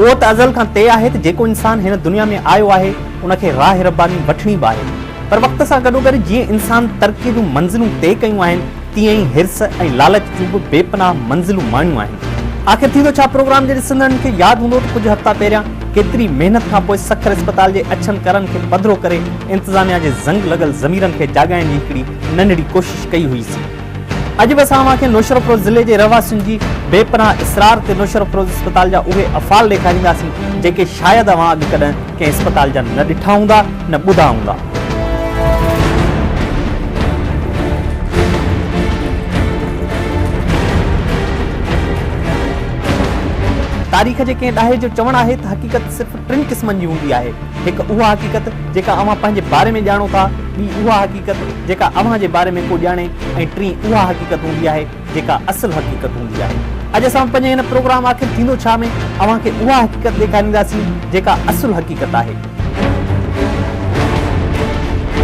اهو ته ازل کان طئي آهي ته جيڪو انسان هن دنيا ۾ آيو آهي ان کي راهه رباني وٺڻي به آهي پر وقت سان گڏوگڏ جيئن انسان ترقيء جون منزلون طئي ڪيون آهن تيئن ئي حرص ۽ لالچ جون به بي پناهه منزلون ماڻيون آهن. آخر ٿيندو ڇا پروگرام جي ڏسندڙن کي ياد هوندو ته ڪجهه هفتا پهريان ڪيتري محنت کان پوء سکر اسپتال جي اڇن ڪرن کي پڌرو ڪري انتظاميا جي زنگ لڳل ضميرن کي جاڳائڻ جي هڪڙي ننڍڙي ڪوشش ڪئي هئي سين. اڄ به اسان اوهان کي نوشهروفروز ضلعي جي رهواسين جي بي پناهه اصرار تي نوشهروفروز اسپتال جا اهي افعال ڏيکارينداسين جيڪي شايد اوهان اڳ ڪڏهن ڪنهن اسپتال جا نه ڏٺا هوندا نه ٻڌا هوندا. تاريخ جي ڪنهن ڏاهي جو چوڻ آهي ته حقيقت صرف ٽن قسمن جي هوندي آهي، هڪ اها حقيقت جيڪا اوهان پنهنجي باري ۾ ڄاڻو ٿا، ٻي اها حقيقت جيڪا اوهان جي باري ۾ ڪو ڄاڻي ۽ ٽين اها حقيقت هوندي آهي، جيڪا اصل حقيقت هوندي آهي. اڄ اسان پنهنجي هن پروگرام آخر ٿيندو ڇا؟ ۾ اوهان کي اها حقيقت ڏيکارينداسين جيڪا اصل حقيقت آهي.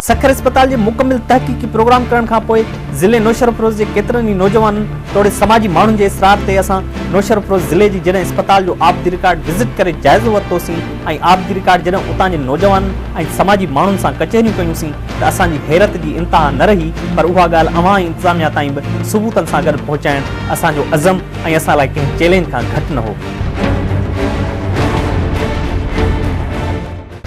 سکر اسپتال جي مڪمل تحقيقي پروگرام ڪرڻ کان پوء ضلعي نوشهروفروز جي ڪيترن ئي نوجوانن توڙي سماجي ماڻهن جي اصرار تي اسان نوشهروفروز ضلعي جي جڏهن اسپتال جو آبدي رڪارڊ وزٽ ڪري جائزو ورتوسين ۽ آبدي رڪارڊ جڏهن اتان جي نوجوانن ۽ سماجي ماڻهن سان ڪچهريون ڪيونسين ته اسان جي حيرت جي انتها نه رهي پر اها ڳالهه اوهان ۽ انتظاميا تائين به ثبوتن سان گڏ پهچائڻ اسان جو عزم ۽ اسان لاء ڪنهن چئلينج کان گهٽ نه هو.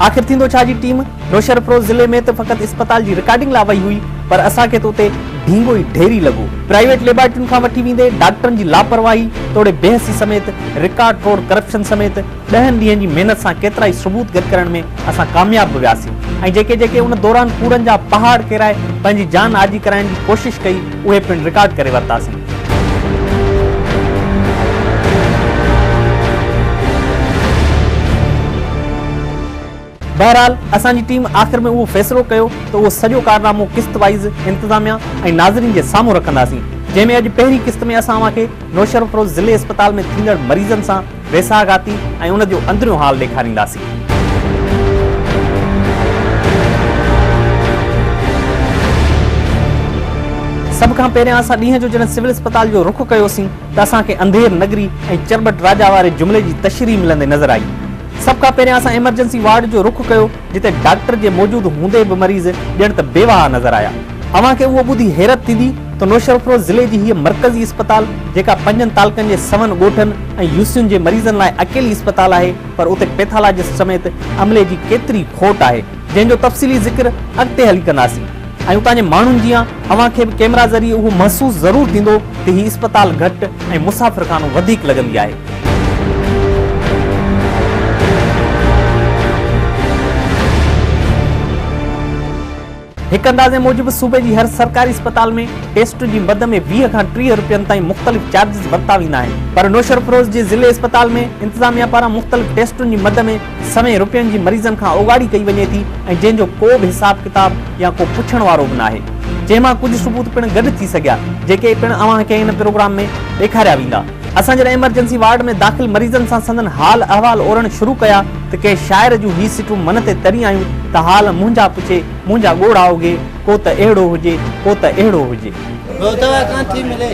آخر ٿيندو ڇا جي ٽيم نوشهرفروز ضلعي ۾ ته فقط اسپتال جي رڪارڊنگ لاء وئي هئي پر اسان کي ته اتي ڍينگو ئي ڍيري لڳو. پرائيويٽ ليبارٽرين کان وٺي ويندي ڊاڪٽرن جي لاپرواهي توڙي بي حسي سميت رڪارڊ ٽوڙ ڪرپشن سميت ڏهن ڏينهن جي محنت سان ڪيترائي ثبوت گڏ ڪرڻ ۾ اسان ڪامياب به وياسين ۽ جيڪي جيڪي ان دوران ڪوڙن جا پهاڙ ڪيرائي پنهنجي جان آجي ڪرائڻ جي ڪوشش ڪئي اهي پڻ رڪارڊ ڪري ورتاسين. بهرحال اسان جي ٽيم آخر ۾ اهو فيصلو ڪيو ته اهو سڄو ڪارنامو قسط وائيز انتظاميا ۽ ناظرين جي سامهون رکنداسين جنهن ۾ اڄ پهرين قسط ۾ اسان اوهان کي نوشهروفروز ضلعي اسپتال ۾ ٿيندڙ مريضن سان ويساهه گهاتي ۽ ان جو اندريون حال ڏيکارينداسين. سڀ کان پهريان اسان ڏينهن جو جڏهن سول اسپتال جو رخ ڪيوسين ته اسان کي انڌير نگري ۽ چرٻٽ راجا واري جملي جي تشريح ملندي نظر آئي. سڀ کان پهريان اسان ايمرجنسي وارڊ جو رخ ڪيو جتي ڊاڪٽر جي موجود هوندي به مريض ڄڻ ته بي واهه نظر آيا. اوهان کي اهو ٻڌي حيرت ٿيندي ته نوشهرفروز ضلعي جي هيء مرڪزي اسپتال جيڪا پنجن تعلقن جي سون ڳوٺن ۽ يوسين جي مريضن لاء اڪيلي اسپتال آهي پر اتي پيٿالاجسٽ سميت عملي جي ڪيتري کوٽ آهي. جنهن جو تفصيلي ذڪر اڳتي هلي ڪنداسين ۽ اتان جي ماڻهن جيان اوهان کي به ڪيمرا ذريعي اهو محسوس ضرور ٿيندو ته هي اسپتال گهٽ ۽ مسافرخانو وڌيڪ لڳندي آهي. هڪ اندازي موجب صوبي جي هر سرڪاري اسپتال ۾ ٽيسٽ جي مد ۾ ويهه کان ٽيهه رپين تائين مختلف چارجز ورتا ويندا آهن پر نوشهرفروز جي ضلعي اسپتال ۾ انتظاميا پاران مختلف ٽيسٽن جي مد ۾ سوين روپين جي مريضن کان اوڳاڙي ڪئي وڃي ٿي ۽ جنهن جو ڪو به حساب ڪتاب يا ڪو پڇڻ وارو به ناهي جنهن مان ڪجهه ثبوت پڻ گڏ ٿي سگهيا جيڪي پڻ اوهان کي هن پروگرام ۾ ڏيکاريا ويندا اسان جڏهن ايمرجنسي وارڊ ۾ داخل مريضن سان سندن حال احوال اورڻ شروع ڪيا ته ڪنهن شاعر جون هي سٽون من تي تري آيون ته حال منهنجا پڇي منهنجا ڳوڙها اگهي ڪو ته اهڙو هجي ڪو ته اهڙو هجي. ڀوتوا ڪانٿي ملي.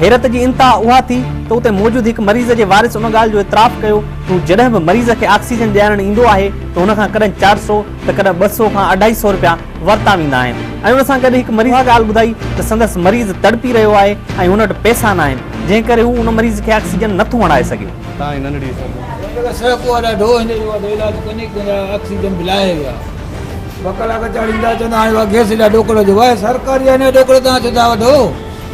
حيرت جي انتها اها ٿي ته اتي موجود هڪ مريض جي وارث ان ڳالهه جو اعتراف ڪيو ته هو جڏهن به مريض کي آڪسيجن ڏيارڻ ايندو آهي ته هن کان ڪڏهن چار سؤ ته ڪڏهن ٻه سؤ کان اڍائي سؤ رپيا ورتا ويندا آهن ۽ ان سان گڏ هڪ مريض اها ڳالهه ٻڌائي ته سندس مريض تڙپي رهيو آهي ۽ هن وٽ پئسا ناهن جنهن ڪري هو ان مريض کي آڪسيجن نٿو هڻائي سگهي. تان هن ننڍڙي سگهو. جيڪر سهپ اها ڏاڍو هو هن جو اها ته علاج ڪونهي ڪندا آڪسيجن به لاهي ويا. ٻه ڪلاڪ چاڙهيندا چوندا هاڻي اها گيس ايڏا ڏوڪڙ جو واهه سرڪاري آهي نه ڏوڪڙ تان ڇو ٿا وٺو.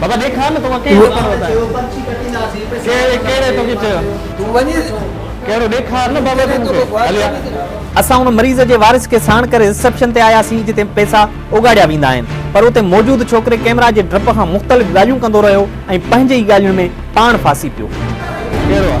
بابا ڏيکار نه توکان ڪنهن ڊوڪڙ وتايو. ڪهڙي ڪهڙي توکي چيو. تون وڃي ڇو. ڪهڙو ڏيکار نه بابا تون مونکي هلي آ. اسان ان مريض جي وارث کي ساڻ ڪري رسيپشن تي آياسين جتي پئسا اوڳاڙيا ويندا آهن پر اتي موجود ڇوڪري ڪئميرا جي ڊپ کان مختلف ڳالهيون ڪندو رهيو ۽ پنهنجي ئي ڳالهين ۾ پاڻ ڦاسي پيو. ڪهڙو آ.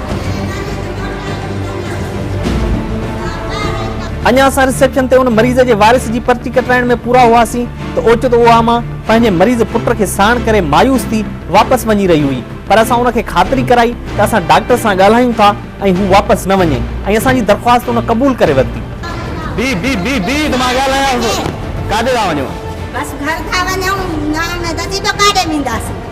اڃا اسان رسيپشن تي ان مريض جي وارث جي پرچي ڪٽرائڻ ۾ پورا هئاسين ته اوچتو اها ماء پنهنجي مريض پٽ کي ساڻ ڪري مايوس ٿي واپس وڃي رهي هئي پر اسان ان کي خاطري ڪرائي ته اسان ڊاڪٽر سان ڳالهايون ٿا ۽ هو واپس نه وڃي ۽ اسان جي درخواست ان قبول ڪري ورتي. بي بي بي بي ته مان ڳالهايانس ڪاڏي ٿا وڃو؟ بس گهر ٿا وڃون نه نه دادي ٻيو ڪاڏي وينداسين.